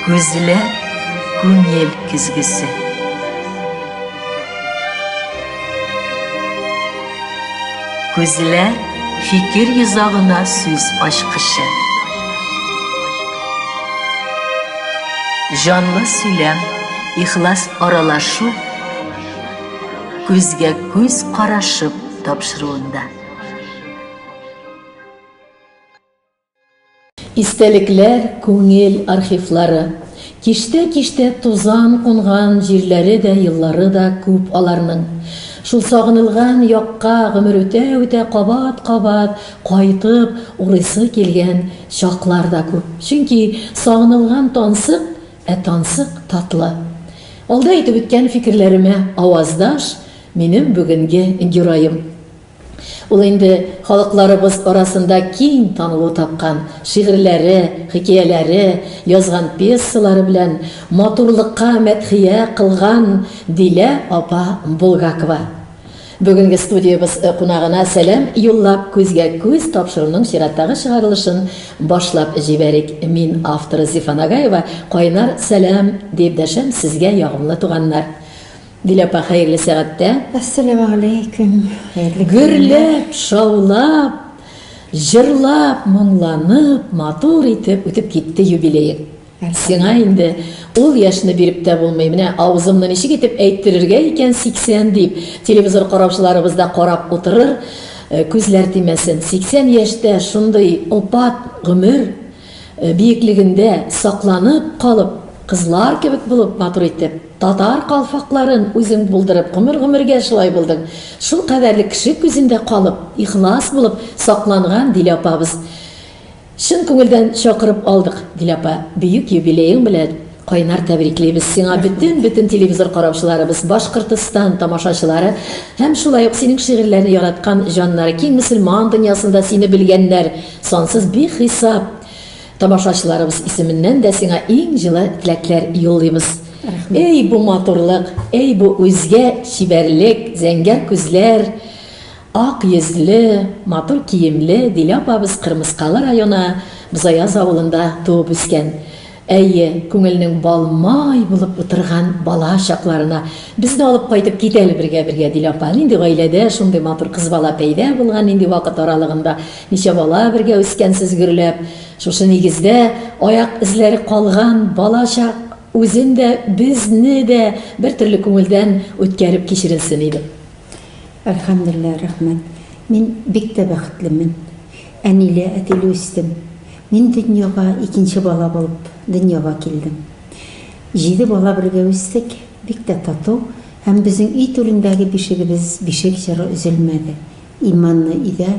Күзләр күңел көзгесе. Күзләр фикер йозагына сүз ачкычы. Җанлы сөйләм, ихлас аралашу күзгә күз карашып тапшыруында. Истәлекләр, күңел архивлары. Киштә-киштә тузан кунган җирләре дә, еллары да күп аларның. Шул сагынылган якка гомер үтә-үтә кабат-кабат кайтып урыйсы килгән чаклар да күп. Чөнки сагынылган тансык, ә тансык татлы. Алда әйтеп үткән фикерләремә аваздаш минем бүгенге героем. Ул инде халыкларыбыз арасында киң танылу тапкан шигырьләре, хикәяләре, язган пьесалары белән матурлыкка мәдхия кылган Дилә апа Булгакова бүгенге студиябез кунагына сәлам юллап күзгә күз тапшыруның чираттагы чыгарылышын башлап җибәрик. Мин авторы Зифа Нагаева кайнар сәлам дип дәшәм сезгә ягымлы туганнар. Дилә апа, хәерле сәгатьтә. Әссәләмәгаләйкүм, хәерле көннәр. Гөрләп, шаулап, җырлап, моңланып, матур итеп үтеп китте юбилеең. Сиңа инде ул яшьне биреп тә булмый. Менә авызымны ничек итеп әйттерергә икән 80 дип, телевизор караучыларыбыз да карап утырыр, күзләр тимәсен. 80 яшьтә шундый опат гомер. Биеклегендә сакланып калып, кызлар кебек булып, матур итеп, татар калфакларын үзең булдырып, гомер-гомергә шулай булдың. Шул кадәрле кеше күзендә калып, ихлас булып сакланган Дилә апабыз. Чын күңелдән чакырып алдык, Дилә апа, бөек юбилеең белән! Кайнар тәбриклибез сиңа бөтен бөтен телевизор караучыларыбыз, Башкортостан тамашачылары һәм шулай ук синең шигырьләрне яраткан җаннары, киң мөселман дөньясында сине белгәннәр сансыз бихисап тамашачыларыбыз исеменнән дә сиңа иң җылы теләкләр юллыйбыз. Әй бу матурлык, әй бу үзгә чибәрлек, зәңгәр күзләр, ак йөзле, матур киемле Дилә апабыз Кырмыскалы районы Бозаяз авылында туып үскән. Әйе, күңелнең бал-май булып утырган бала чакларына. Без дә алып кайтып кит әле бергә-бергә, Дилә апа. Нинди гаиләдә шундый матур кыз бала пәйда булган, нинди вакыт аралыгында ничә бала бергә үскәнсез гөрләп. Шушы нигездә аяк эзләре калган бала чак үзен дә, безне дә бертөрле күңелдән үткәреп кичерелсен иде. Әлхәмдүлилләһ, рәхмәт. Мин бик тә бәхетлемен. Әниле, әтиле үстем. Мин дөньяга икенче бала булып дөньяга килдем. Җиде бала бергә үстек, бик тә тату һәм безнең өй түрендәге бишегебез бишек җыры өзелмәде. Иманлы өйдә,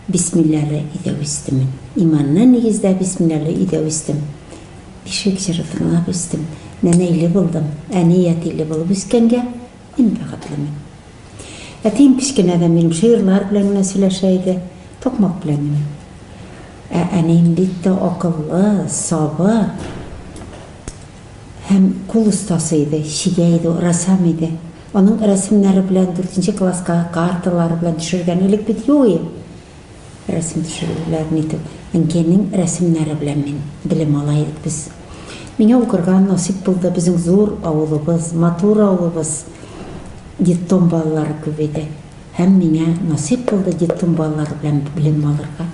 бисмилләле өйдә үстемен. Иманлы нигездә, бисмилләле өйдә үстем. Бишек җыры тыңлап үстем. Нәнәйле булдым. Әни әтиле булып үскәнгә, Мин бәхетлемен. Әтием кечкенәдән минем җырлар белән генә сөйләшә иде, токмак белән генә. Ә әнием бик тә акыллы, сабыр һәм кул остасы иде, чигә иде, рәссам иде. Аның рәсемнәре белән дүртенче класска карталары белән төшергән. Элек бит юк иде. Рәсем төшерүләрен итү. Әнкәйнең рәсемнәре белән мин белем ала идек без. Миңа укырга насыйп булды. Безнең зур авылыбыз, матур авылыбыз. Детдом балалары күп иде. Һәм миңа насыйп булды детдом балалары белән белем алырга.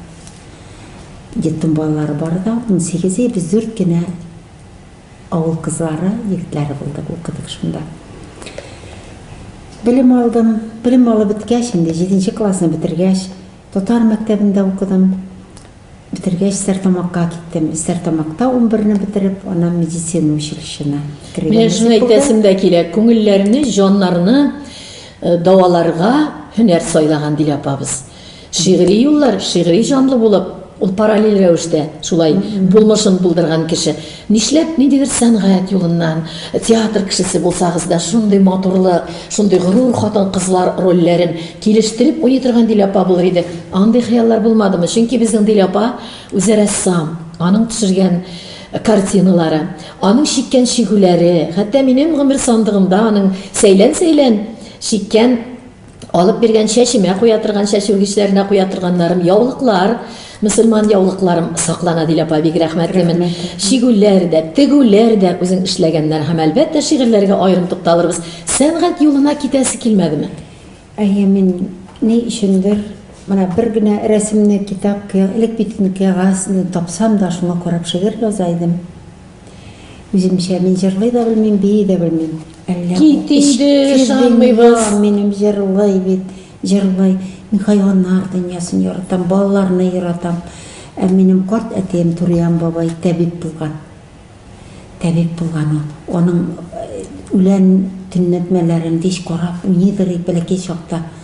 Детдом балалары бары да унсигез, без дүрт кенә. Авыл кызлары, егетләре булды, укыдык шунда. Белем алдым. Белем алып беткәч, инде җиденче классны бетергәч, татар мәктәбендә укыдым. Бетергәч, Стәрлетамакка киттем. Стәрлетамакта унберне бетереп, аннан медицина училищена керергә Менә шуны насыйп булды. әйтәсем дә килә. Күңелләрне, җаннарны э, дәваларга һөнәр сайлаган, Дилә апабыз. Шигъри юллар, шигъри җанлы булып, ул параллель рәвештә шулай булмышын булдырган кеше. Нишләп ниндидер сәнгать юлыннан, театр кешесе булсагыз да, шундый матурлык, шундый горур хатын-кызлар рольләрен килештереп уйный торган Дилә апа булыр иде? Андый хыяллар булмадымы? Чөнки безнең Дилә апа үзе рәссам, аның төшергән картиналары, аның чиккән чигүләре, хәтта минем гомер сандыгымда аның сәйлән-сәйлән чиккән Алып биргән чәчемә куя торган чәч үргечләренә куя торганнарым, яулыклар, мөселман яулыкларым саклана, ди апа, бик рәхмәтлемен. Чигүләр дә, тегүләр дә үзең эшләгәннәр һәм әлбәттә шигырьләргә аерым тукталырбыз. Сәнгать юлына китәсе килмәдеме? Әйе, мин ни өчендер менә бер генә рәсемне китап, элек бит инде кәгазь тапсам да шуңа карап шигырь яза идем. Үземчә мин җырлый да белмим, бии дә белмим. Әллә Кит инде, ышанмыйбыз. Минем җырлый бит, җырлый. Мин хайваннар дөньясын яратам, балаларны яратам. Ә минем карт әтием Туриян бабай табиб булган. Табиб булган ул. Аның э, үлән төнләтмәләрен кич карап, уйныйдыр бәләкәй чакта.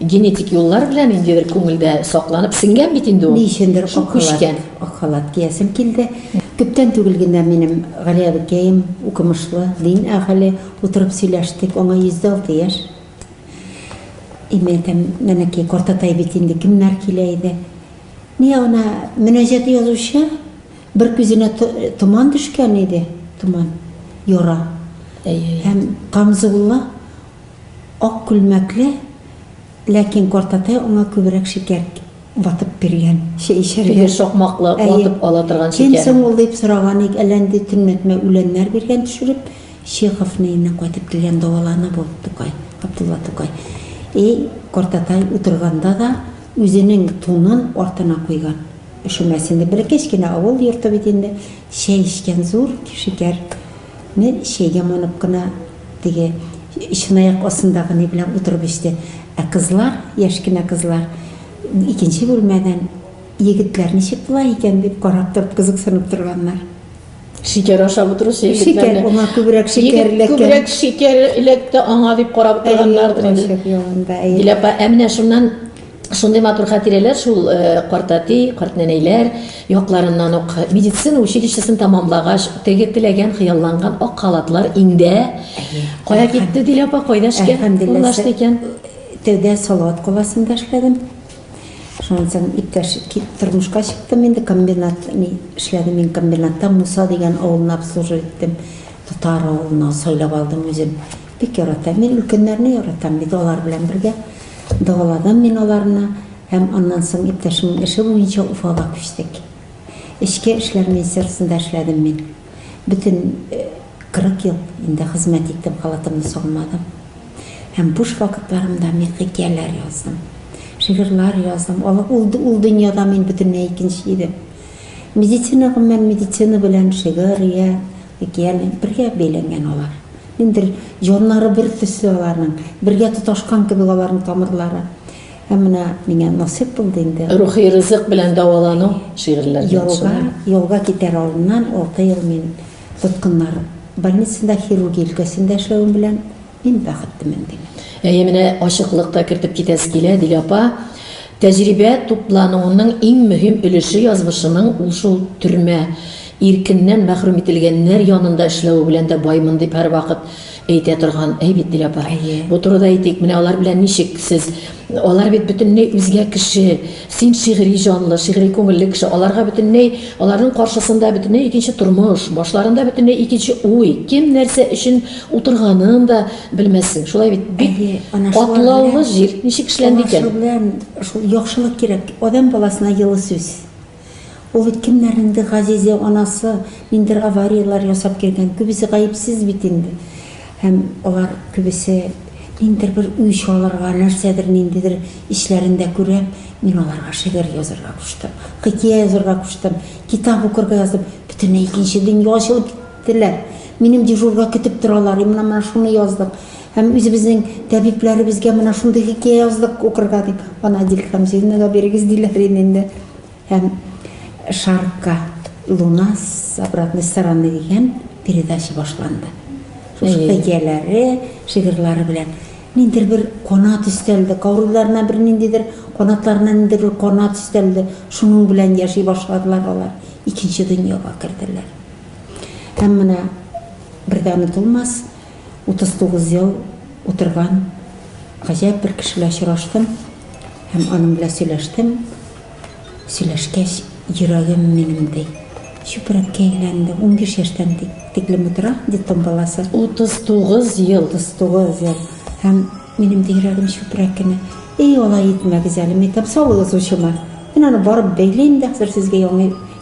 Генетик юллар белән ниндидер күңелдә сакланып сеңгән бит инде ул. Ни өчендер ак халат, ак халат киясем килде. Күптән түгел генә минем Гали әбекәем, укымышлы, дин әһеле, утырып сөйләштек, аңа 106 яшь. И мин әйтәм, Нәнәкәй, картатай бит инде, кемнәр килә иде? Ни ана мөнәҗәт язучы, бер күзенә томан төшкән иде, томан, яра. Һәм Камзулла Ак күлмәкле, ләкин картатай аңа күбрәк шикәр ватып биргән, чәй эчәргә. Теге сукмаклы, ватып ала торган шикәр. Кем соң ул дип сораган ик, әллә нинди төнләтмә үләннәр биргән төшереп. Чеховны иннән кайтып килгән дәвалана бу, Тукай, Габдулла Тукай. И, картатай утырганда да үзенең тунын артына куйган, өшемәсен дип. Бәләкәч кенә авыл йорты бит инде, чәй эчкән зур шикәр. Мин чәйгә манып кына теге чынаяк астындагы ни белән утырып эчте. Ә кызлар, яшь кенә кызлар, икенче бүлмәдән, егетләр ничек була икән дип карап торып, кызыксынып торганнар. Шикәр ашап утыручы егетләрне. Шикәр, аңа күбрәк шикәр эләккән. Күбрәк шикәр эләкте аңа дип карап торганнардыр инде. Әйе, кайчак ялында. Диләпә, ә менә шуннан Шундый матур хатирәләр шул картәти, картнәнәйләр якларыннан ук. Медицина училищесын тәмамлагач, теге теләгән, хыялланган ак халатлар инде кая китте, Дилә апа, кайда эшкә урнашты икән? Тәүдә Салават каласында эшләдем. Шуннан соң иптәш тормышка чыктым инде, комбинат ни эшләдем мин комбинатта, Муса дигән авылны обслуживать иттем. Татар авылына сайлап алдым үзем. Бик яратам. Мин өлкәннәрне яратам бит, алар белән бергә дәваладым мин аларны һәм аннан соң иптәшемнең эше буенча Уфага күчтек. Эчке эшләр министерствосында эшләдем мин. Бөтен 40 ел инде хезмәт иттем, халатымны салмадым. Һәм буш вакытларымда мин хикәяләр яздым, шигырьләр яздым. Ул дөньяда мин бөтенләй икенче идем. Медицина, гомумән, медицина белән шигырь йә хикәя бергә бәйләнгән алар. Ниндидер җаннары бер төсле аларның, бергә тоташкан кебек аларның тамырлары. Һәм менә миңа насыйп булды инде. Рухи ризык белән дәвалану шигырьләрдән Ялга, шулай. ялга китәр алдыннан алты ел мин тоткыннар больницасында хирургия өлкәсендә эшләвем белән мин бәхеттемен, дим. Әйе, менә ачыклык та кертеп китәсе килә, Дилә апа. Тәҗрибә туплануының иң мөһим өлеше язмышының ул шул төрмә, иркеннән мәхрүм ителгәннәр янында эшләве белән дә баймын дип һәрвакыт әйтә торган, әй бит, Дилә апа. Әйе. Бу турыда әйтик, менә алар белән ничек сез, алар бит бөтенләй үзгә кеше, син шигъри җанлы, шигъри күңелле кеше, аларга бөтенләй, аларның каршысында бөтенләй икенче тормыш, башларында бөтенләй икенче уй, кем нәрсә өчен утырганын да, Белмәссең, шулай бит. Бик Әйе, ана шулар катлаулы белән- җир. Ничек эшләнде Ана икән? шулар белән шул яхшылык кирәк. Адәм баласына йылы сүз. Ул бит кемнәрнеңдер газизе, анасы, ниндидер аварияләр ясап кергән. Күбесе гаепсез бит инде. Һәм алар күбесе ниндидер бер үч алырга, нәрсәдер, ниндидер эчләрендә күрә. Мин аларга шигырь язарга куштым. Хикәя язарга куштым. Китап укырга яздым. Бөтенләй икенче дөнья ачылып китте. Теләр. Минем дежурга көтеп торалар, и менә менә шуны яздык. Һәм үзебезнең тәбипләребезгә менә шундый хикәя яздык укырга дип, аны Адиль Хәмзиевнага бирегез, диләр иде инде. Һәм Шарка луна с обратной стороны дигән передача башланды. Шушы Әйе. хикәяләре, шигырьләре белән ниндидер бер канат өстәлде, каурыйларына бер ниндидер, канатларына ниндидер бер канат өстәлде. Шуның белән яши башладылар алар. Икенче дөньяга керделәр. Һәм менә бер дә онытылмас 39 ел утырган гаҗәеп бер кеше белән очраштым һәм аның белән сөйләштем. Сөйләшкәч, йөрәгем минем, ди, чүпрәккә әйләнде. Унбиш яшьтән тиклем утыра детдом баласы. 39 ел! 39 ел! Һәм минем дә йөрәгем чүпрәк кенә. Әй, алай итмәгез әле, мәйтәм, саулыгыз очыма. Мин аны барып бәйлим дә, хәзер сезгә яңа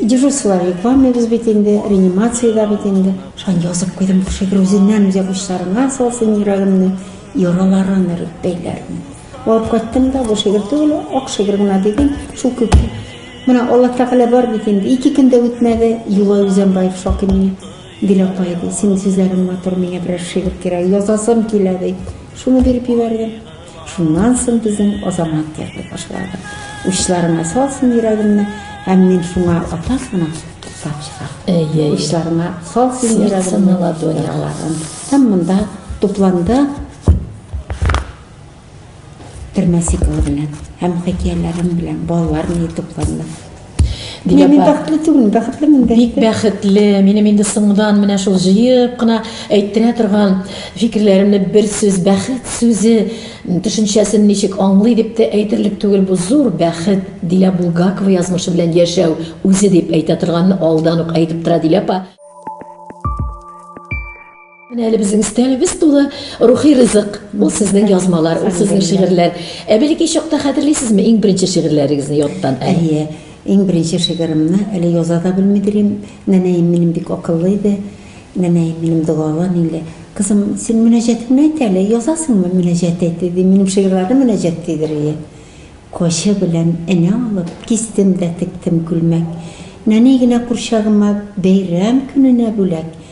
Дежурстволар йокланмый без бит инде, реанимациядә бит инде. Шан язып куйдым бу шигырь үзеннән үзе учларына салсын йөрәгемне, яраларын өреп бәйләрмен. Алып кайттым да бу шигырь түгел, ак шигырь генә дидем, шул күп. Менә Алла Тәгалә бар бит инде. Ике көн дә үтмәде, Юлай Үзәнбаев шакир мин. Гел апай ди, синең сүзләрең матур, миңа берәр шигырь кирәк, язасым килә ди. Шуны биреп җибәрде. Шуннан соң безнең Азамат яза башлады. Учларыңа салсын йөрәгемне, һәм мин шуңа ата сына туктап чыга. Әйе. Учларыңа салсын йөрәгемне ладонь. Һәм монда тупланды термәсиклы белән һәм хикәяләрем белән балалар ни тупланды. Диләпә. Мин, мин бәхетле түгел, бәхетле мин бәхетле. Бик бәхетле. Минем инде соңдан менә шул җыеп кына әйттерә торган фикерләремне бер сүз бәхет сүзе төшенчәсен ничек аңлый дип тә әйтерлек түгел бу зур бәхет. Дилә Булгакова язмышы белән яшәү үзе дип әйтә торганны алдан ук әйтеп тора Диләпә. Менә әле безнең өстәлебез тулы рухи ризык. Ул сезнең язмалар, ул сезнең шигырьләр. Ә бәләкәй чакта хәтерлисезме иң беренче шигырьләрегезне яттан? Әйе, иң беренче шигыремне әле яза да белми дирим. Нәнәем минем бик акыллы иде. Нәнәем минем догалы ниле. Кызым, син мөнәҗәтеңне әйт әле, язасыңмы мөнәҗәт әйт диде. Минем шигырьләрне мөнәҗәт дидер ие. Кочы белән энә алып, кистем дә тектем күлмәк. Нәни генә курчагыма бәйрәм көненә бүләк.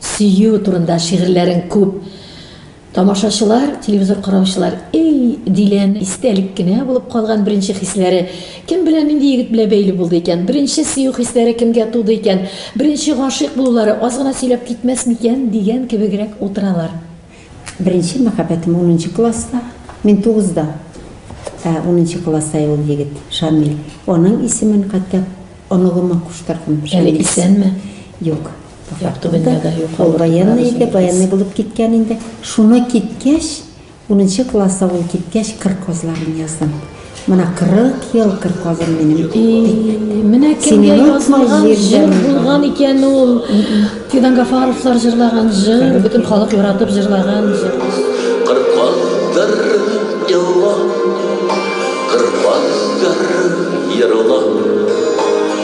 Сөю турында шигырьләрең күп. Тамашачылар, телевизор караучылар, эй, Диләнең истәлек кенә булып калган беренче хисләре кем белән, нинди егет белән бәйле булды икән? Беренче сөю хисләре кемгә туды икән? Беренче гашыйк булулары аз гына сөйләп китмәс микән? дигән кебегрәк утыралар. Беренче мәхәббәтем унынчы класста, мин тугызда, ә унынчы класста ул егет, Шамил. Аның исемен хәтта оныгыма куштырдым. Әле исәнме? Юк. Ул военный иде, военный булып киткән инде. Шуны киткәч, унынчы класса ул киткәч, кыр казларын яздым. Менә 40 ел кыр казым минем. Менә кемгә язылган җыр булган икән ул. Фидан Гафаровлар җырлаган җыр, бөтен халык яратып җырлаган җыр. Кыр казлар еллар, кыр казлар еллар.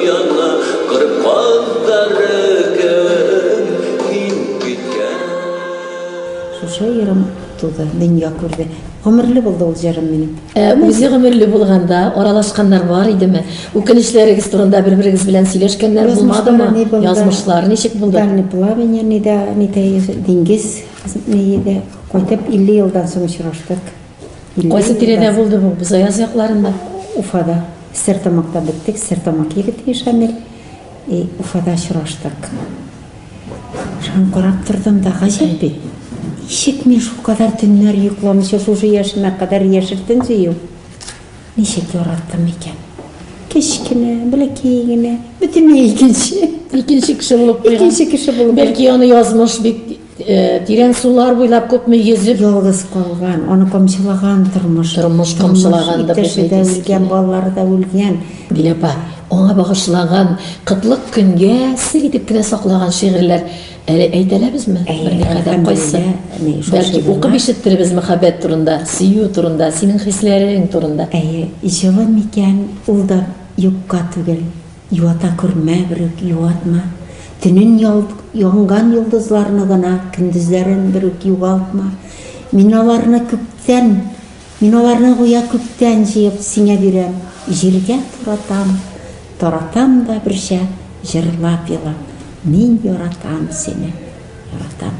Яна кыр казлары кебек мин көткән. Шушы ерым туды, дөнья күрде. Гомерле булды ул җырым минем. Үзе гомерле булганда аралашканнар бар идеме? Үкенечләрегез турында бер-берегез белән сөйләшкәннәр булмадымы? Язмышлар ничек булды? Дальний плавание, диңгез, кайтып 50 елдан соң очраштык. Кайсы тирәдә булды бу? Бузаяз якларында. Уфада. Стертамакта беттек. Стертамак егете Шамил. И Уфада очраштык. Шуны карап тордым да гаҗәп бит. Ничек мин шул кадәр төннәр йокламыйча шушы яшемә кадәр яшертен сөю. Ничек яраттым икән? Кечкенә, бәләкәй генә, бөтенләй икенче. Икенче кеше булып куйган. Икенче кеше булып. Бәлки аны язмыш бит Тирән сулар буйлап күпме йөзеп. Ялгыз калган, аны камчылаган тормыш. Тормыш камчылаган да Иптәше дә үлгән, балалары да үлгән. Дилә апа, аңа багышлаган кытлык көнгә сер итеп кенә саклаган шигырьләр әле әйтәләбезме? Берникадәр кайсы? Бәлки укып ишеттеребез мәхәббәт турында, сөю турында, синең хисләрең турында. Әйе, җылы микән, ул да юкка түгел. Юата күрмә берүк, юатма, Төнен янган йолдызларны гына, Көндезләрен берүк югалтма. Мин аларны күптән, Мин аларны гүя күптән җыеп сиңа бирәм, Җиргә таратам, таратам да берчә җырлап елап, Мин яратам сине, яратам.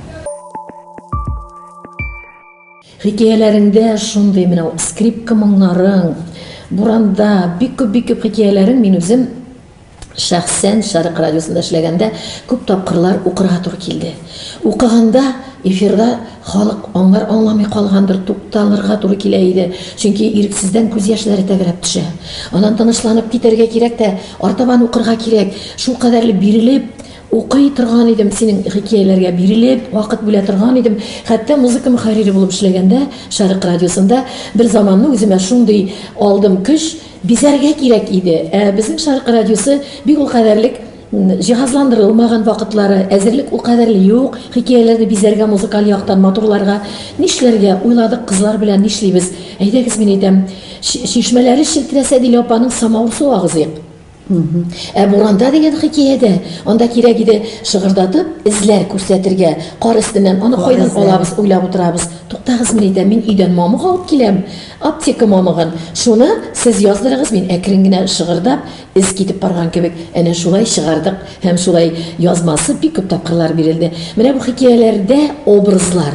Хикәяләреңдә шундый менә скрипка моңнарың, буранда бик күп бик күп хикәяләрең мин үзем шәхсән Шәрык радиосында эшләгәндә күп тапкырлар укырга туры килде. Укыганда эфирда халык аңлар аңламый калгандыр, тукталырга туры килә иде, чөнки ирексездән күз яшьләре тәгәрәп төшә. Аннан тынычланып китәргә кирәк тә, артабан укырга кирәк. Шулкадәрле бирелеп, Укый торган идем, синең хикияләргә бирелеп, вакыт бүлә торган идем. Хәтта музыка мөхәррире булып эшләгәндә, Шәрык радиосында, бер заманны үземә шундый алдым көч, бизәргә кирәк иде. Ә безнең Шәрык радиосы бик ул кадәрлек җиһазландырылмаган вакытлары, әзерлек ул кадәрле юк, хикияләрне бизәргә, музыкаль яктан матурларга. Нишләргә, уйладык кызлар белән, нишлибез, әйдәгез, мин әйтәм, чишмәләре челтерәсә, Дилә апаның самавыр суы агызыйк. Ә буранда дигән хикәядә, анда кирәк иде шыгырдатып эзләр күрсәтергә, кар өстеннән аны кайдан алабыз уйлап утырабыз. Туктагыз, мин әйтәм, мин өйдән мамык алып киләм, аптека мамыгын. Шуны сез яздырыгыз, мин әкрен генә шыгырдап, эз китеп барган кебек, әнә шулай чыгардык һәм шулай язмасы бик күп тапкырлар бирелде. Менә бу хикәяләрдә образлар.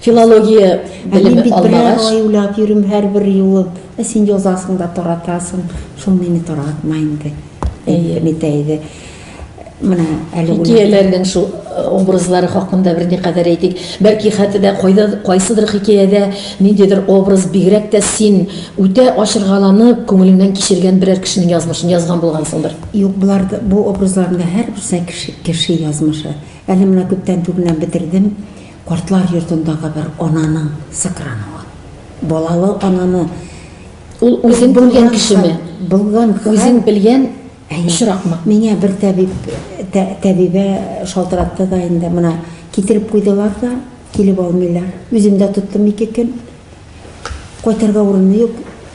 Филология белеме алмагач. Мин бит берәр ай уйлап йөрим һәрбер юлын. Ә син язасың да таратасың. Шул мине таратма инде. Әйе. Бит әйе. Менә әле хикәяләрнең шул э, образлары хакында бер никадәр әйтик. Бәлки хәтта дә кайда кайсыдыр хикәядә ниндидер образ бигрәк тә син үтә ачыргаланып, күңелеңнән кичергән берәр кешенең язмышын язган булгансыңдыр. Юк, булар бу образларны һәрберсе кеше, кеше язмышы. Әле менә күптән түгел бетердем. Картлар йортындагы бер ананың сыкрануы. Балалы ананы Ул үзен белгән кешеме? Булган хәл. Үзен белгән очракмы? Миңа бер табиб, табибә шалтыратты да инде, менә китереп куйдылар да, килеп алмыйлар. Үзем дә тоттым ике көн. Кайтырга урыны юк,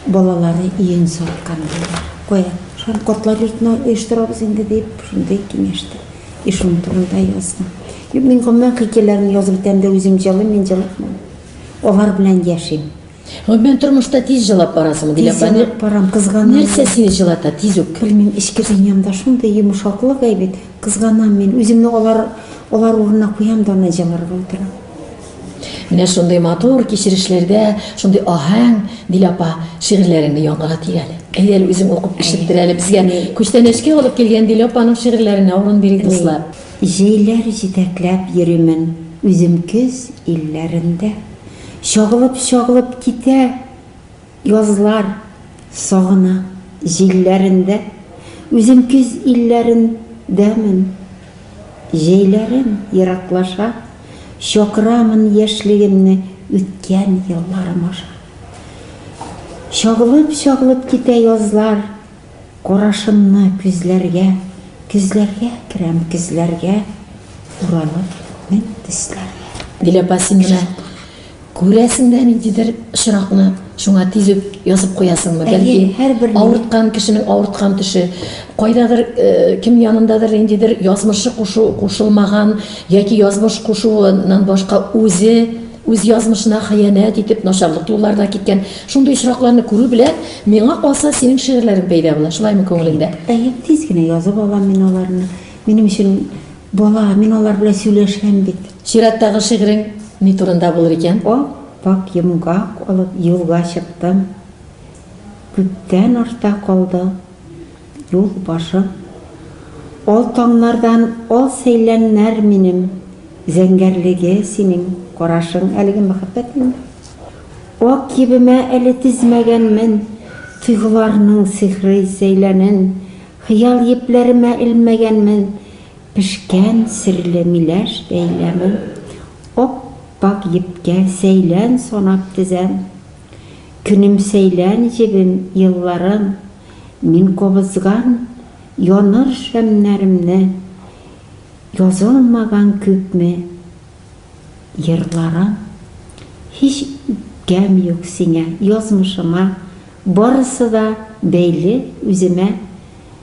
балалары өен саткан булды. Кая, шул картлар йортына оештырабыз инде, дип, шундый киңәш тә. И шуның турында яздым. Юк, мин гомумән хикәяләрне язып бетәм дә үзем җылыйм, мин җылыкмыйм. Алар белән яшим. Гомумән тормышта тиз җылап барасыңмы, Диләфа? Тиз җылап барам, кызганам. Нәрсә сине җылата тиз үк? Белмим, эчке дөньямда шундый йомшаклык әйбит, кызганам мин, үземне алар, алар урынына куям да аны җылырга утырам. Менә шундый матур кичерешләрдә, шундый аһәң, Дилә апа, шигырьләреңне яңгырат тик әле. Әйдә әле үзең укып ишеттер әле безгә. Күчтәнәчкә алып килгән Дилә апаның шигырьләренә урын бирик, дуслар. Җәйләр җитәкләп йөримен үзем көз илләрендә. Чагылып-чагылып китә Язлар сагына җилләрендә, Үзем көз илләрендәмен. Җәйләрем ераклаша, Чакырамын яшьлегемне Үткән елларым аша. Чагылып-чагылып китә язлар, Карашымны күзләргә, Көзләргә керәм, көзләргә, Уралып мең төсләргә. Дилә Пасин менә күрәсең дә ниндидер очракны, шуңа тиз үк язып куясыңмы? Бәлки, авырткан кешенең авырткан төше, кайдадыр, кем янындадыр ниндидер язмышы кушылмаган яки язмыш кушуыннан башка үзе, Үз язмышына хыянәт итеп, начарлык юлларда киткән. Шундый очракларны күрү белән, миңа калса, синең шигырьләрең пәйда була, шулаймы күңелеңдә? Әйе, тиз генә язып алам мин аларны. Минем өчен бала, мин алар белән сөйләшәм бит. Чираттагы шигырең ни турында булыр икән? Ап-ак йомгак алып, юлга чыктым. Күптән артта калды Юл башым, ал таңнардан ал сәйләннәр минем, зәңгәрлеге синең карашың, әлеге мәхәббәт инде. Ак кибемә әле тезмәгәнмен, тойгыларның сихри сәйләнен, хыял епләремә элмәгәнмен, пешкән серле миләш бәйләмен, ап-пак епкә сәйлән санап тезәм. Көнем сәйлән җебем, елларым, Мин кабызган яныр шәмнәремне, Язылмаган күпме йырларым. Һич үпкәм юк сиңа, язмышыма, Барысы да бәйле үземә.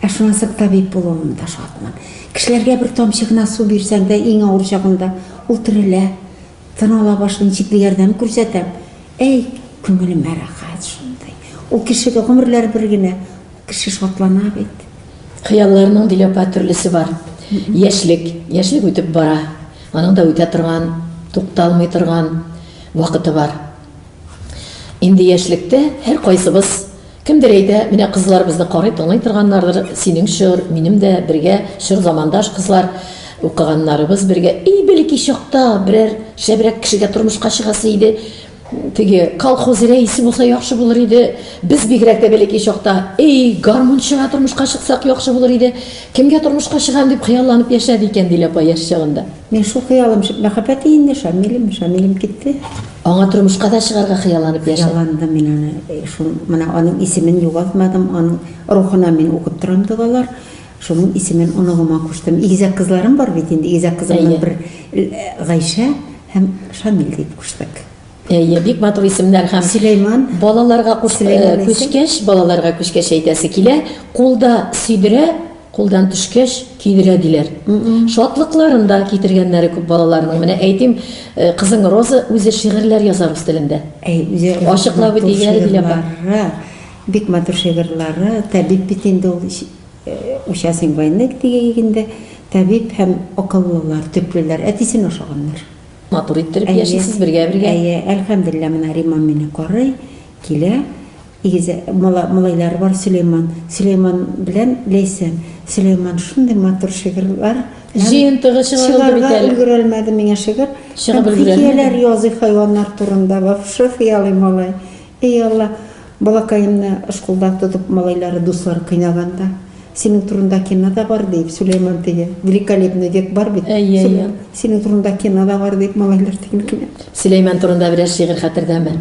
Ә шуңа соң табиб булуыма да шатмын. Кешеләргә бер тамчы гына су бирсәң дә, иң авыр чагында ул терелә, тын ала башлый, ничек дә ярдәм күрсәтәм. Әй, күңелемә рәхәт шундый. Ул кешегә гомерләр бер генә, кеше шатлана бит. Хыялларның, Диләпә, төрлесе бар. Яшьлек, яшьлек үтеп бара. Аның да үтә торган, тукталмый торган вакыты бар. Инде яшьлектә һәркайсыбыз, кемдер әйтә, менә кызларыбызны карый-тыңлый торганнардыр, синең чор, минем дә бергә чор замандаш кызлар, укыганнарыбыз бергә, и бәләкәй чакта берәр шәбрәк кешегә тормышка чыгасы иде, теге колхоз рәисе булса яхшы булыр иде, без бигрәк тә бәләкәй чакта, әй, гармунчыга тормышка чыксак яхшы булыр иде, кемгә тормышка чыгам дип хыялланып яшәде икән, Диләпа яшь чагында. Мин шул хыялым, мәхәббәте инде Шамилем, Шамилем китте. Аңа тормышка да чыгарга хыялланып яшәдем. Хыялландым мин аны. Э, шул менә аның исемен югалтмадым, аның рухына мин укып торам догалар. Шуның исемен оныгыма куштым. Игезәк кызларым бар бит инде. Игезәк кызымның бер э, Гайшә һәм Шамил дип куштык. Әйе, бик матур исемнәр һәм Сөләйман балаларга күчкәч, балаларга күчкәч әйтәсе килә, кулда сөйдерә, Кулдан төшкәч, кидерә, диләр. Шатлыкларын да китергәннәре күп балаларның. Менә әйтим, э, кызың Роза үзе шигырьләр яза рус телендә. Әй, үзе Ачыклап матур үтигәр, диләр ба. шигырьләре, Бик матур шигырьләре. Табиб бит инде ул. Ш- э, Участник войны диге инде. Табиб һәм акыллылар, төплеләр. Әтисен ашаганнар. Матур иттереп Әйе. яшисез бергә-бергә. Әйе, әлхәмдуллилла, менә Римам мине карый, килә. Игез малайлары бар Сөләйман. Сөләйман белән Ләйсән. Сөләйман шундый матур шигырьләр. Җыентыгы чыгарылды бит әле. Чыгарга өлгерәлмәде миңа шигырь. Чыгып өлгерәлмәде. Хикәяләр язый хайваннар турында. Вафша хыялый малай. Эй Алла, балакаемны шкулда тотып малайлары, дуслары кыйнаганда. Синең турында кино да бар, диеп, Сөләйман теге великолепный век бар бит. Әйе, әйе. Синең турында кино да бар, диеп, малайлар тегене кенә. Сөләйман турында берәр шигырь хәтердәме?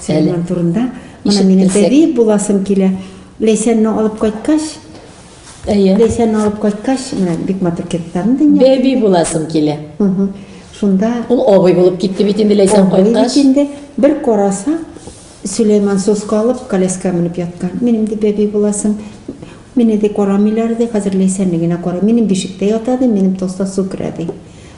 Сөләйман турында. Менә минем бәби буласым килә. Ләйсәнне алып кайткач, Әйе. Ләйсәнне алып кайткач, менә бик матур киттем дөнья. Бәби буласым килә. Шунда. Ул абый булып китте бит инде Ләйсән кайткач. Бер караса, Сөләйман соска алып, коляска менеп яткан. Минем ди бәби буласың. Мине ди карамыйлар ди, хәзер Ләйсәнне генә кара. Минем бишектә ята ди, минем тоста су керә ди.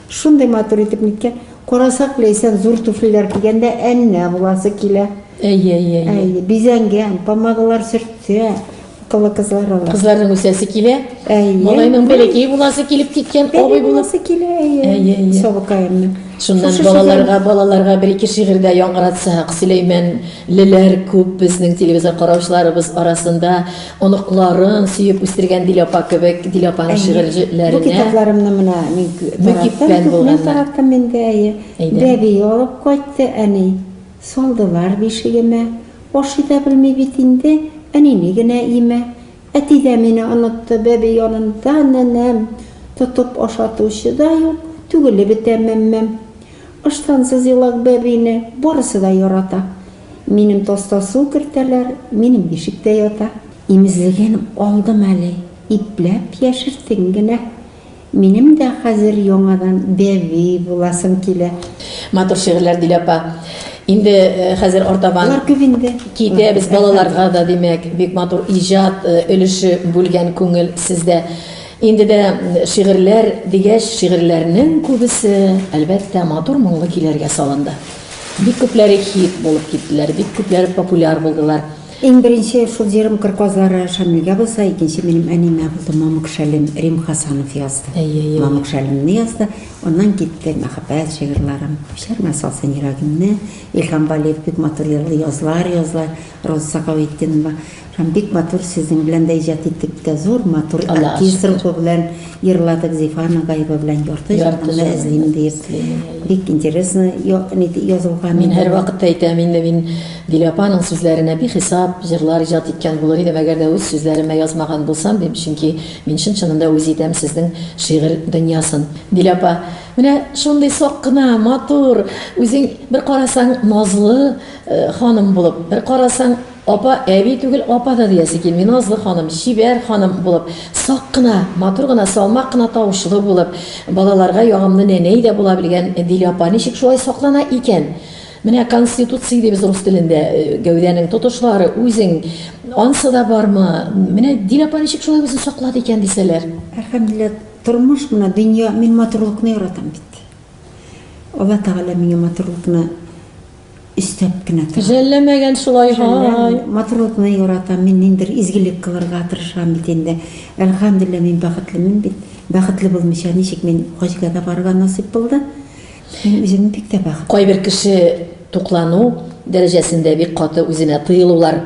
Шундый матур итеп ниткән. Карасак, Ләйсән зур туфлиләр кигән дә әннә буласы килә. Әйе, әйе, әйе. Әйе, бизәнгән, помадалар сөртә, Кылы кызлар ала. Кызларның үсәсе килә. Әйе. Малайның бәләкәй буласы килеп киткән абый Әйе, булып. буласы килә, әйе. Әйе, әйе. Сабыкаемны. Шуннан Шушы балаларга, балаларга бер ике шигырь дә яңгыратсак, Сөләймәнлеләр күп безнең телевизор караучыларыбыз арасында оныкларын сөеп үстергән Дилә апа кебек, Дилә апаның Бу шигырьләренә китапларымны менә мин Мөкиббән тараттым, күпме булганнар. тараттым инде, әйе. Әйдә. Бәби алып кайтты, әни. Салдылар бишегемә. Ашый да белми бит инде, әнине генә имә. Әти дә мине онытты, бәби янында нәнәм. Тотып ашатучы да юк, түгелеп бетә мәммәм. Ыштансыз елак бәбине барысы да ярата. Минем таста су кертәләр, минем бишектә ята. Имезлеген алдым әле, ипләп яшертим генә. Минем дә хәзер яңадан бәби буласым килә. Матур шигырьләр Дилә апа. Инде хәзер артабан Алар күп инде. Китәбез балаларга да, димәк, бик матур иҗат өлеше бүлгән күңел сездә. Инде дә шигырьләр дигәч, шигырьләрнең күбесе, әлбәттә, матур моңлы көйләргә салынды. Бик күпләре хит булып киттеләр, бик күпләре популяр булдылар. Иң беренче шул җырым Кыр казлары Шамилгә булса, икенче минем әнимә булды, Мамык шәлем, Рим Хасанов язды. Әй-әй-әй. Мамык шәлемне язды, аннан китте мәхәббәт җырларым, Күчәрмә салсын йөрәгемне, Илһам Балиев бик матур җырлый, Язлар, язлар, Роза Сәхәветдинова, һәм бик матур сезнең белән дә иҗат иттек, бик тә зур, матур Аллага шөкер. Оркестрым белән. Йырладык Зифа Нагаева белән Ярты җанымны эзлим дип. Бик интересно язылган. Мин һәрвакыт әйтәм инде, мин Дилә апаның сүзләренә бихисап җырлар иҗат иткән булыр идем, әгәр дә үз сүзләремә язмаган булсам, дим, чөнки мин чын-чынында үз итәм сезнең шигырь дөньясын. Дилә апа, менә шундый сак кына, матур, үзең бер карасаң назлы ханым булып, бер карасаң, Апа, әби түгел, апа да диясе килми, назлы ханым, чибәр ханым булып, сак кына, матур гына, салмак кына тавышлы булып, балаларга ягымлы нәнәй дә була белгән Дилә апа ничек шулай саклана икән? Менә конституция дибез рус телендә, гәүдәнең тотышлары, үзең, ансы да бармы? Менә Дилә апа ничек шулай үзен саклады икән дисәләр? Әлхәмдүлилләһ, тормыш менә, дөнья, мин матурлыкны яратам бит. Алла Тәгалә миңа матурлыкны. өстәп кенә тора. Жәлләмәгән шулай, һай. Матурлыкны яратам, мин ниндер изгелек кылырга тырышам бит инде. Әлхәмдүлилләһ, мин бәхетлемен бит. Бәхетле булмыйча ничек мин хаҗга да барырга насыйп булды. Мин үземне бик тә бәхетле. Кайбер кеше туклану дәрәҗәсендә бик каты үзенә тыелулар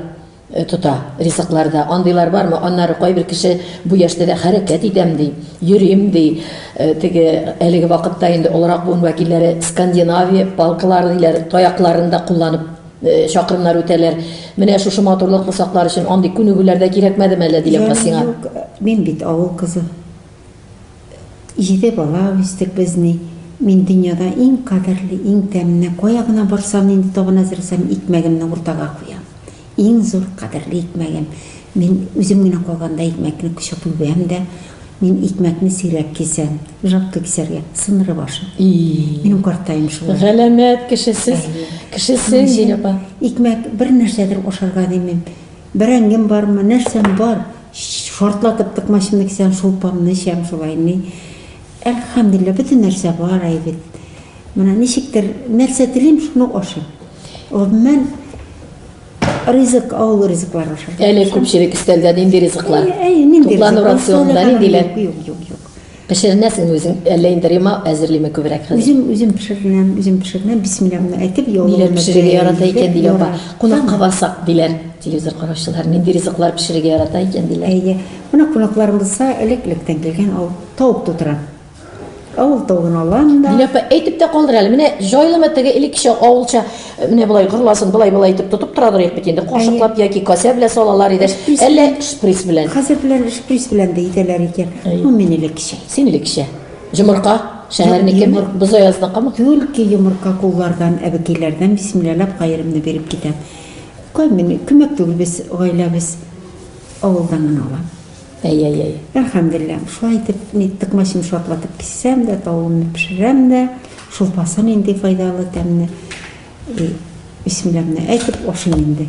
тота. Ризыкларда андыйлар бармы? Аннары кайбер кеше бу яшьтә дә хәрәкәт итәм ди, йөрим ди. Э, теге әлеге вакытта инде олырак буын вәкилләре Скандинавия палкалары диләр, таякларын да кулланып э, чакрымнар үтәләр. Менә шушы матурлык усаклар өчен андый күнегүләр дә кирәкмәдеме әллә диләр сиңа? Мин бит авыл кызы. Җиде бала үстек без ни, мин дөньяда иң кадерле, иң тәмне, кая гына барсам, нинди табын әзерләсәм, икмәгемне уртага куям. Иң зур, кадерле икмәгем. Мин үзем генә калганда икмәкне кочып үбәм дә, мин икмәкне сирәк кисәм, жалко кисәргә, сындырып ашыйм. Минем картаем шулай. Галәмәт кеше сез, кеше син, Гөлия апа. Икмәк, бер нәрсәдер ашарга димим. Бәрәңгем бармы, нәрсәм бар. Шартлатып тыкмачымны кисәм, шулпамны эчәм, шулай ни. Әлхәмдүлилләһ, бөтен нәрсә бар әй бит. Менә ничектер, нәрсә телим, шуны ашыйм. Гомумән, ризык, авыл ризыкларын ашарга тырышам. Әле күпчелек өстәлдә нинди ризыклар? Әйе, нинди ризыклар? Туклану рационында ниндиләр? Юк, юк, юк. Пешеренәсеңме үзең, әллә инде Рима әзерлиме күбрәк хәзер? Үзем, үзем пешеренәм, үзем пешеренәм, бисмилла гына әйтеп, яулыгымны Ниләр пешерергә ярата икән, диләр апа. Кунакка барсак, диләр телевизор караучылар, нинди ризыклар пешерергә ярата икән, диләр. Әйе, менә кунакларым булса, элек-электән килгән ул тавык тутыра. Авыл тавыгын алам да. Диләпә, әйтеп тә калдыр әле. Менә җайлымы теге элеккечә авылча Менә болай гырласын, былай былай итеп тотып тора дорыйк бит инде. Кашыклап яки касә белән салалар иде. Әллә шприц белән. Хәзер белән шприц белән дә итәләр икән. Бу минеке кичә. Синеке кичә. Җомырка шәһәрнеке Бозаязныкымы? Түлке йомырка куллардан, әбекиләрдән бисмилләләп каерымны биреп китәм. Күмәк түгел без гаиләбез авылдан гына алам. Әй-әй-әй. Әлхәмделлә, шулай итеп, мин тыкмачымны шартлатып киссәм дә, тавыгымны пешерәм дә, шулпасы нинди файдалы, тәмле. И, бисмилләмне әйтеп, ашыйм инде.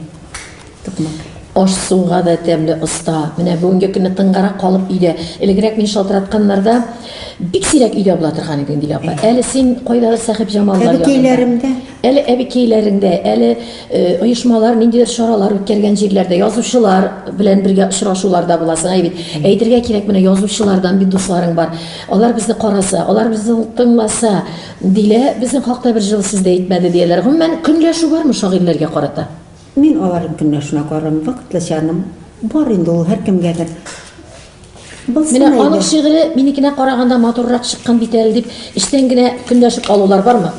Токмак. Аш-суга да тәмле оста. Менә бүгенге көнне тынгарак калып өйдә. Элегрәк мин шалтыратканнарда, бик сирәк өйдә була торган идең, Дилә апа. Әле син кайдадыр Сәхибҗамаллар янында. Әбекәйләремдә. Әле әбекәйләреңдә, әле оешмалар ниндидер чаралар үткәргән җирләрдә язучылар белән бергә очрашуларда буласың. Әй бит, әйтергә кирәк, менә язучылардан бит дусларың бар. Алар безне караса, алар безне тыңласа, дилә, безнең хакта бер җылы сүз дә әйтмәде, дияләр. Гомумән, көнләшү бармы шагыйрьләргә карата? Мин аларның көнләшүенә карармын, вакытлычаның бар инде ул һәркемгә бер Булсын Менә әйдә. аның шигыре минекенә караганда матуррак чыккан бит әле дип, эчтән генә көнләшеп алулар бармы?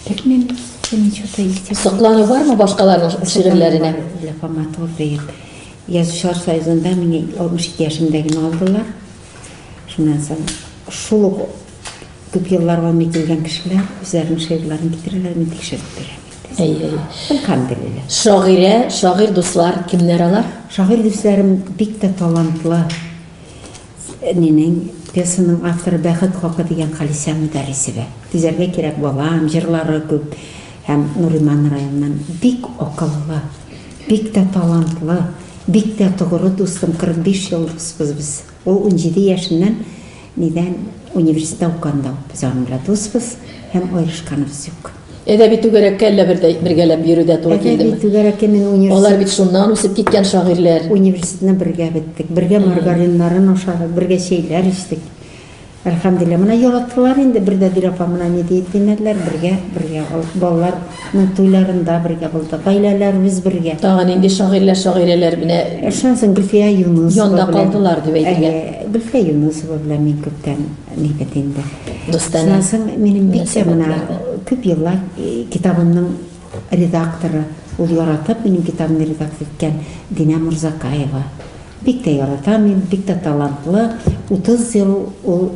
Белмим, синең что-то исти. Соклану бармы башкаларның шигырьләренә? Для Фоматур диеп. Язучылар союзында мине 62 яшемдә генә алдылар. Шуннан соң шул ук күп еллар гомер ителгән кешеләр үзләренең шигырьләрен китерәләр, мин тикшереп бирәм. Әй, әй. Әлхәмдулилла. Шагыйрә, шагыйрь дуслар кемнәр алар? Шагыйрь дусларым бик тә талантлы. Әнинең, пьесаның авторы Бәхет хакы дигән Халисә Мөдәрисова. Түзәргә кирәк, балам, җырлары күп һәм Нуриман районыннан. Бик акыллы, бик тә талантлы, бик тә тогыры дустым, 45 ел дуспыз без. Ул унҗиде яшеннән нидән университетта укыганда ук без аның белән дуспыз һәм аерышканыбыз юк. Әдәби түгәрәккә әллә бер дә бергәләп йөрү дә туры килдеме? Әдәби түгәрәккә мин университет... Алар бит шуннан үсеп киткән шагыйрьләр. Университетны бергә беттек, бергә маргариннарын ашадык, бергә чәйләр эчтек. Әлхәмдулилла, менә яратылар инде, бер дә бер апа менә ни диеп димәделәр, бергә, бергә булдык. Балаларның туйларында бергә булдык, гаиләләребез бергә. Тагын нинди шагыйрьләр, шагыйрәләр менә Шуннан соң Гөлфия Юнысова белән. Янда калдылар дип әйтелә. Гөлфия Юнысова белән мин күптән Ни бит инде. Дустанә. Шуннан минем бик тә менә күп еллар э, китабымның редакторы, ул яратып минем китабымны редактор иткән Динә Мурзакаева. Бик тә яратам мин, бик тә талантлы. 30 ел ул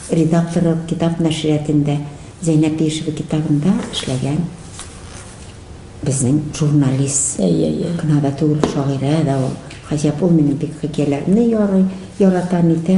редакторы китап нәшриятендә Зәйнәп Ешева китабында эшләгән безнең журналист. Әйе, әйе. Гына да түгел, шагыйрә дә ул. Гаҗәп, ул минем бик хикәяләрне ярый, ярата, нитә.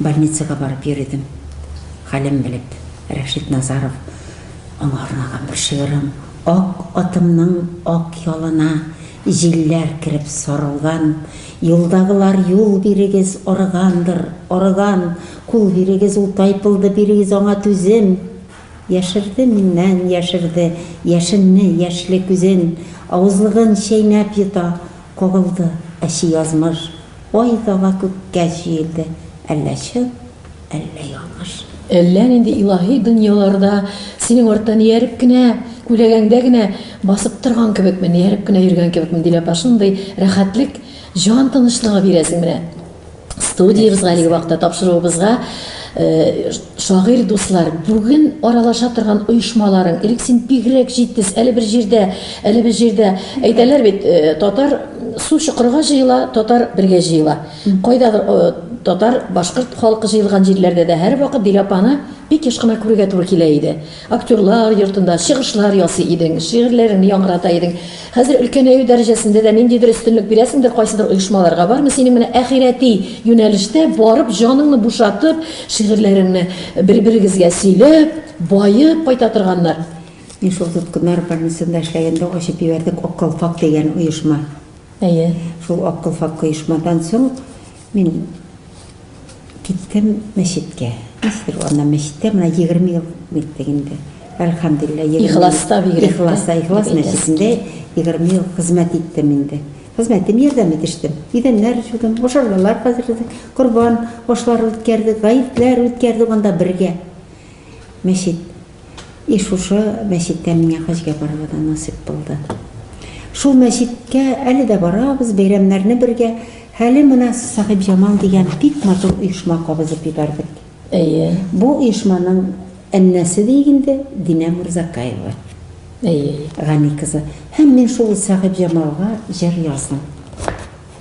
Больницага барып йөридем, хәлен белеп, Рәшит Назаров, Аңа арнаган бер шигырем, Ак атымның ак ялына Җилләр кереп сарылган, Юлдагылар юл бирегез, Арыгандыр, арыган, Кул бирегез, ул тайпылды, Бирегез аңа түзем. Яшерде миннән, яшерде, Яшенне, яшьле күзен, Авызлыгын чәйнәп йота. Кагылды әче язмыш. Ай тага күккә җиелде. Әллә чын, әллә ялгыш. Әллә нинди илаһи дөньяларда синең арттан ияреп кенә, күләгәңдә генә басып торган кебекмен, ияреп кенә йөргән кебекмен, диләпә, шундый рәхәтлек, җан тынычлыгы бирә син менә. Студиябез әлеге вакытта тапшыруыбызга шагыйрь дуслар, бүген аралаша торган оешмаларың, элек син бигрәк җитез, әле бер җирдә, әле бер җирдә әйтәләр бит, татар су чокырга җыела, татар бергә җыела. Кайдадыр татар, башкорт халкы җыелган җирләрдә дә һәрвакыт Диләпаны бик еш кына күрергә туры килә иде. Актерлар йортында чыгышлар ясый идең, шигырьләреңне яңгырата идең. Хәзер өлкәнәю дәрәҗәсендә дә ниндидер өстенлек бирәсеңдер кайсыдыр оешмаларга. Бармы синең менә әхирәти юнәлештә барып, җаныңны бушатып, шигырьләреңне бер-берегезгә сөйләп, баеп кайта торганнар? Мин шул тоткыннар больницасында эшләгәндә ачып җибәрдек Ак калфак дигән оешма. Әйе. Шул Ак калфак оешмадан соң, Мин киттем мәчеткә. Ничектер ул аннан мәчеттә, менә егерме ел киттек инде. Әлхәмдулилла, егерме ел. Ихласта бигрәк тә. Ихласта, Ихлас Бигрәк тә. мәчетендә егерме ел хезмәт иттем инде. Хезмәтем ярдәм итештем. Идәннәр җудым, мошарлылар хәзерләдек, корбан ашлары үткәрдек, гаетләр үткәрдек анда бергә. Мәчет. И шушы мәчеттә миңа хаҗгә барырга да насыйп булды. Шул мәчеткә әле дә барабыз, бәйрәмнәрне бергә. Хәле менә Сәхибҗамал дигән бик матур оешма кабызып ебәрдек. Әйе. Бу оешманың әннәсе диик инде, Динә Мурзакаева. Әйе. Гани кызы. Һәм мин шул Сәхибҗамалга җыр яздым.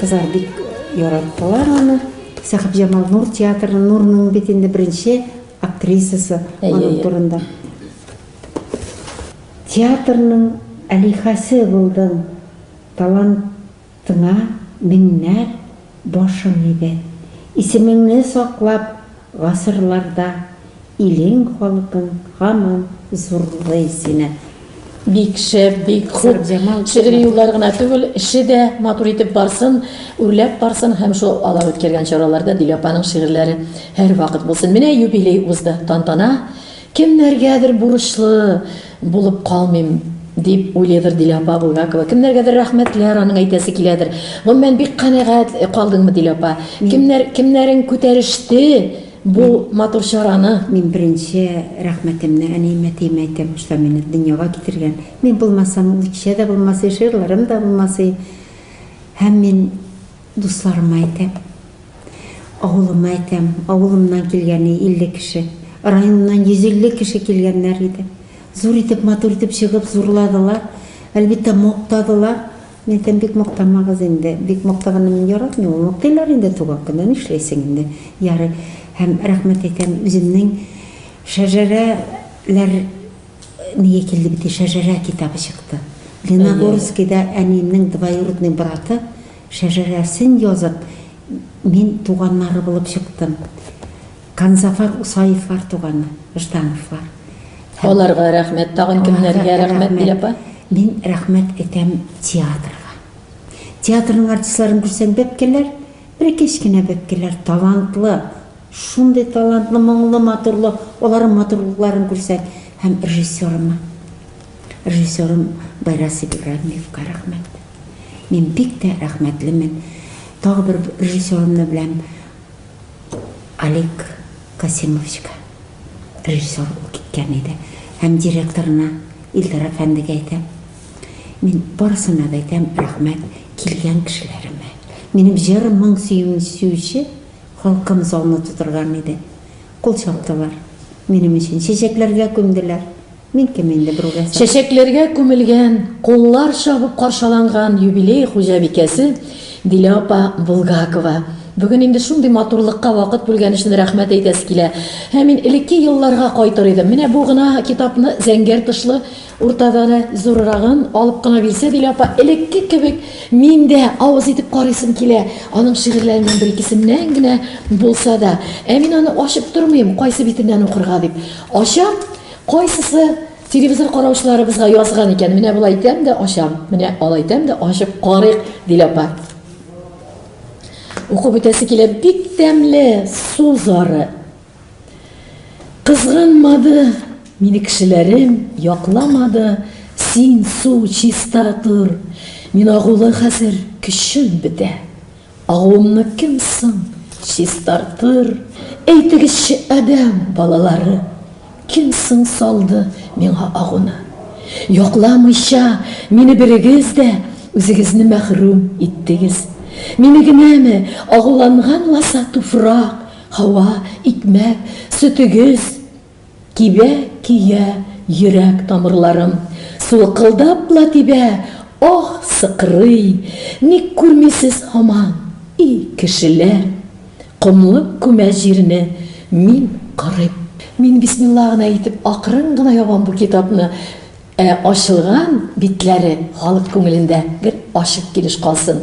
Кызлар бик яраттылар аны. Сәхибҗамал Нур театры, Нурның бит инде беренче актрисасы аның турында. Театрның алихәсе булдың, талантыңа меңнәр башың иде. Исемеңне саклап, гасырларда. Илең халкың һаман зурлый сине. Бик шәп, бик хуп. Шигъри юллары гына түгел, эше дә матур итеп барсын, үрләп барсын һәм шул алар үткәргән чараларда Дилә апаның шигырьләре һәрвакыт булсын. Менә юбилей узды, тантана. Кемнәргәдер бурычлы булып калмыйм, дип уйлыйдыр Дилә апа Булгакова. Кемнәргәдер рәхмәтләр аның әйтәсе киләдер. Гомумән, бик канәгать калдыңмы, Дилә апа? Кемнәр, кемнәрең күтәреште Бу матур чараны. Мин беренче рәхмәтемне әниемә-әтиемә әйтәм, шулар мине дөньяга китергән. Мин булмасам, ул кичә дә булмас, жырларым да булмас. Һәм мин дусларыма әйтәм, авылыма әйтәм, авылымнан килгән 50 кеше, районнан 150 кеше килгәннәр иде. Зур итеп, матур итеп чыгып зурладылар, әлбиттә, мактадылар. Нәтәм бик мактамагыз инде. Бик мактаганны мин яратмыйм ул. Мактыйлар инде туган көнне, нишләйсең инде. Ярый. Һәм рәхмәт әйтәм үземнең Шәжәрә ләр нигә килде бит и Шәжәрә китабы чыкты. Леногорскида әниемнең двоюродный браты Шәжәрәсен язып, мин туганнары булып чыктым. Канзафар Усаевлар туганы, Ждановлар. Аларга рәхмәт, тагын кемнәргә рәхмәт бил апа? Мин рәхмәт әйтәм театрга. Театрның артистларын күрсәң бәпкәләр, бер кечкенә бәпкәләр талантлы, шундый талантлы, моңлы, матурлы, аларның матурлыкларын күрсәң, һәм режиссерыма. Режиссерым Байрас Ибраһимовка рәхмәт. Мин бик тә рәхмәтлемен. Тагы бер режиссерымны беләм, Олег Касимовичка, режиссер ул киткән иде, һәм директорына, Илдар әфәндегә әйтәм, мин барысына да әйтәм, рәхмәт, килгән кешеләремә. Минем җыр моң сөюен сөюче халкым залны тутырган иде. Кул чаптылар, минем өчен чәчәкләргә күмделәр. Мин кем инде берүгә сатып. Чәчәкләргә күмелгән, куллар чабып каршаланган юбилей хуҗабикәсе Дилә апа Булгакова. Бүген инде шундый матурлыкка вакыт бүлгән өчен рәхмәт әйтәсе килә. Һәм мин элекке елларга кайтыр идем. Менә бу гына китапны, зәңгәр тышлы, уртада да зуррагын, алып кына бирсә Дилә апа, элекке кебек мин дә авыз итеп карыйсым килә. Аның шигырьләреннән бер-икесеннән генә булса да. Ә мин аны ачып тормыйм, кайсы битеннән укырга дип. Ачам, Кайсысы телевизор караучыларыбызга язган икән? Менә болай итәм дә ачам. Менә алай итәм дә ачып карыйк, Дилә апа. Укып үтәсе килә. Бик тәмле су зары. Кызганмады мине кешеләрем, якламады. Син су чиста тор. Мин агулы хәзер, көчем бетә. Агуымны кем соң чистартыр? Әйтегезче, адәм балалары, Кем соң салды миңа агуны? Якламыйча мине берегез дә, Үзегезне мәхрүм иттегез. Мине генәме агуланган ласа Туфрак, һава, икмәк, сөтегез? Тибә, көя йөрәк тамырларым. Сулкылдап ла тибә, аһ, сыкрый. Ник күрмисез һаман, и кешеләр? Комлык күмә җирне, мин карыйм. Мин бисмилла гына итеп акрын гына ябам бу китапны. Ә ачылган битләре халык күңелендә гел ачык килеш калсын.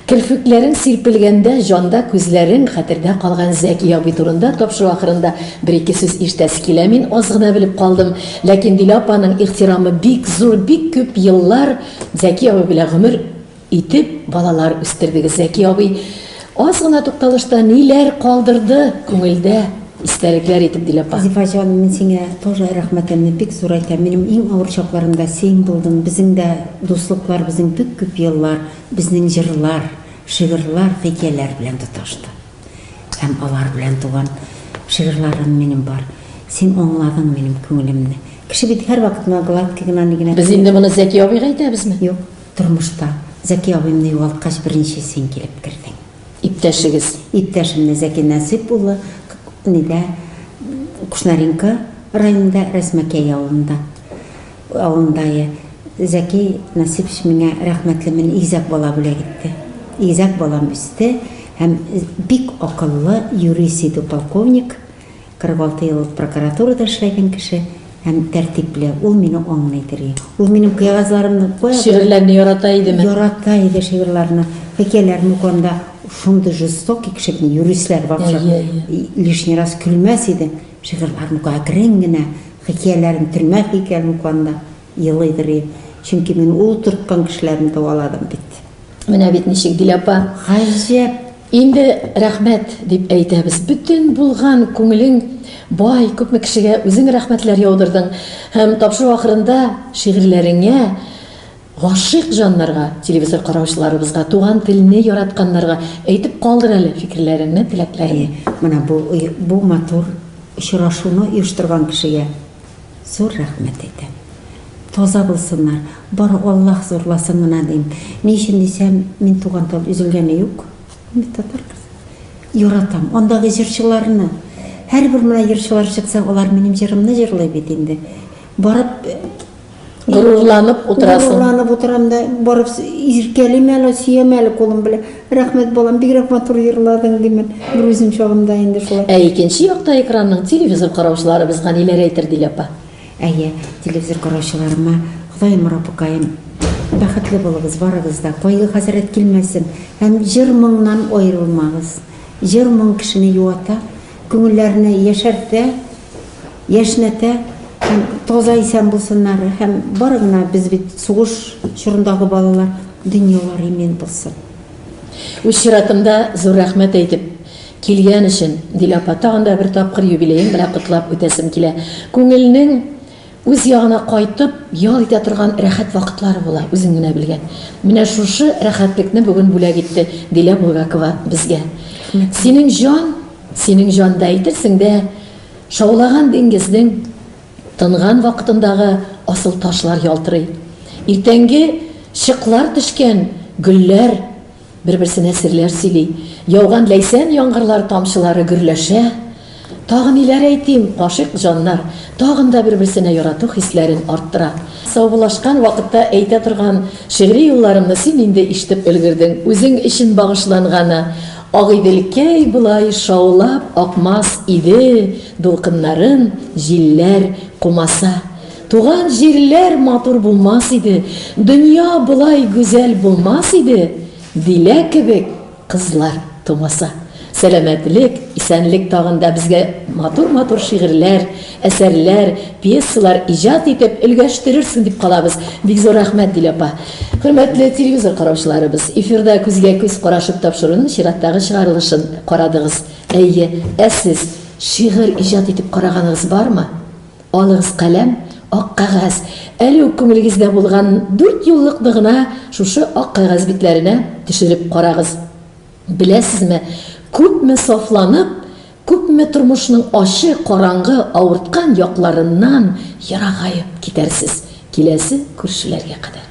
Керфекләрең сирпелгәндә җанда күзләрең хәтердә калган Зәки абый турында тапшыру ахырында бер-ике сүз ишетәсе килә. Мин аз гына белеп калдым, ләкин Диля апаның ихтирамы бик зур, бик күп еллар Зәки абый белән гомер Итеп балалар үстердегез, Зәки абый. Аз гына тукталышта ниләр калдырды күңелдә истәлекләр итеп Дилә апа? Зифа җаным, мин сиңа тоже рәхмәтемне бик зур әйтәм. Минем иң авыр чакларымда син булдың. Безнең дә дуслыклар безнең бик күп еллар безнең җырлар, шигырьләр, хикәяләр белән тоташты. Һәм алар белән туган шигырьләрем минем бар. Син аңладың минем күңелемне. Кеше бит һәрвакыт гына гладкий гына ни генә Без инде моны Зәки абыйга әйтәбезме? Юк. Тормышта Зәки абыйымны югалткач беренче син килеп кердең. Иптәшегез. Иптәшемне Зәки Нәсыйп улы нидә Кушнаренко районында Рәсмәкәй авылында авылындайы Зәки Нәсыйпч миңа рәхмәтле мен игезәк бала бүләк итте. Игезәк балам үсте һәм бик акыллы юрист иде полковник 46 ел прокуратурада эшләгән кеше һәм тәртипле. Ул мине аңлый дери. Ул минем кәгазьләремне кая. Шигырьләрне ярата идеме? Ярата иде шигырьләрне, хикәяләрне укыганда шундый жестокий кеше бит, юристлар барча лишний раз көлмәс иде. Шигырьләрен укый, әкрен генә хикәяләрен, төрмә хикәяләрен укыганда. Елыйдыр ди. Чөнки мин ул төрткан кешеләрне дәваладым бит. Менә бит ничек, Дилә апа. Гаҗәп! Инде рәхмәт дип әйтәбез. Бөтен булган күңелең бай, күпме кешегә үзең рәхмәтләр яудырдың. Һәм тапшыру ахырында шигырьләреңә гашыйк җаннарга, телевизор караучыларыбызга, туган телне яратканнарга әйтеп калдыр әле фикерләреңне, теләкләреңне. Әйе, менә бу матур очрашуны оештырган кешегә. Зур рәхмәт әйтәм. Таза булсыннар. Бары Аллаһ зурласын гына дим. Ни өчен дисәм, мин туган тел өзелгәне юк. Мин бит татар кызы. Яратам андагы җырчыларны. Һәрбер менә җырчылар чыкса, алар минем җырымны җырлый бит инде. Барып Горурланып утырасың. Горурланып утырам да, барып иркәлим әле, сөям әле кулым белән. Рәхмәт, балам, бигрәк матур йырладың, димен, грузин чагында инде шулай. Ә икенче якта экранның телевизор караучыларыбыз ганиләр әйтер, Дилә апа. Әйе, телевизор караучыларыма, Ходаем, Раббыкаем, бәхетле булыгыз барыгыз да, кайгы, хәсрәт килмәсен һәм җыр-моңнан аерылмагыз. Җыр-моң кешене юата, Күңелләрне яшәртә, яшьнәтә һәм таза исән булсыннар һәм бары гына без бит сугыш чорындагы балалар дөньялар имин булсын. Үз чиратымда зур рәхмәт әйтеп, килгән өчен, Дилә апа, тагын да бер тапкыр юбилеең белән котлап үтәсем килә. Күңелнең Үз ягына кайтып, ял итә торган рәхәт вакытлары була, үзең генә белгән. Менә шушы рәхәтлекне бүген бүләк итте Дилә Булгакова безгә. Синең җан, синең җанда әйтерсең дә шаулаган диңгезнең тынган вакытындагы асыл ташлар ялтырый. Иртәнге чыклар төшкән гөлләр. Бер-берсенә серләр сөйли. Яуган ләйсән яңгырлар тамчылары гөрләшә. Тагы ниләр әйтим, гашыйк җаннар тагын да бер-берсенә ярату хисләрен арттыра. Саубуллашкан вакытта әйтә торган шигъри юлларымны син инде ишетеп өлгердең. Үзең өчен багышланганы, Агыйделкәй болай шаулап акмас иде, дулкыннарын җилләр кумаса. Туган җирләр матур булмас иде, дөнья болай гүзәл булмас иде, Дилә кебек кызлар тумаса. Сәламәтлек, исәнлек тагын да безгә матур-матур шигырьләр, әсәрләр, пьесалар иҗат итеп өлгәштерерсең дип калабыз. Бик зур рәхмәт, Дилә апа. Хөрмәтле телевизор караучыларыбыз, эфирда күзгә-күз карашып тапшыруның чираттагы чыгарылышын карадыгыз. Әйе, ә сез шигырь иҗат итеп караганыгыз бармы? Алыгыз каләм, ак кәгазь. Әле үк күңелегездә булган дүрт юллыкны гына шушы ак кәгазь битләренә төшереп карагыз. Беләсезме, күпме сафланып, күпме тормышның ачы, караңгы, авырткан якларыннан ерагаеп китәрсез, киләсе күршеләргә кадәр.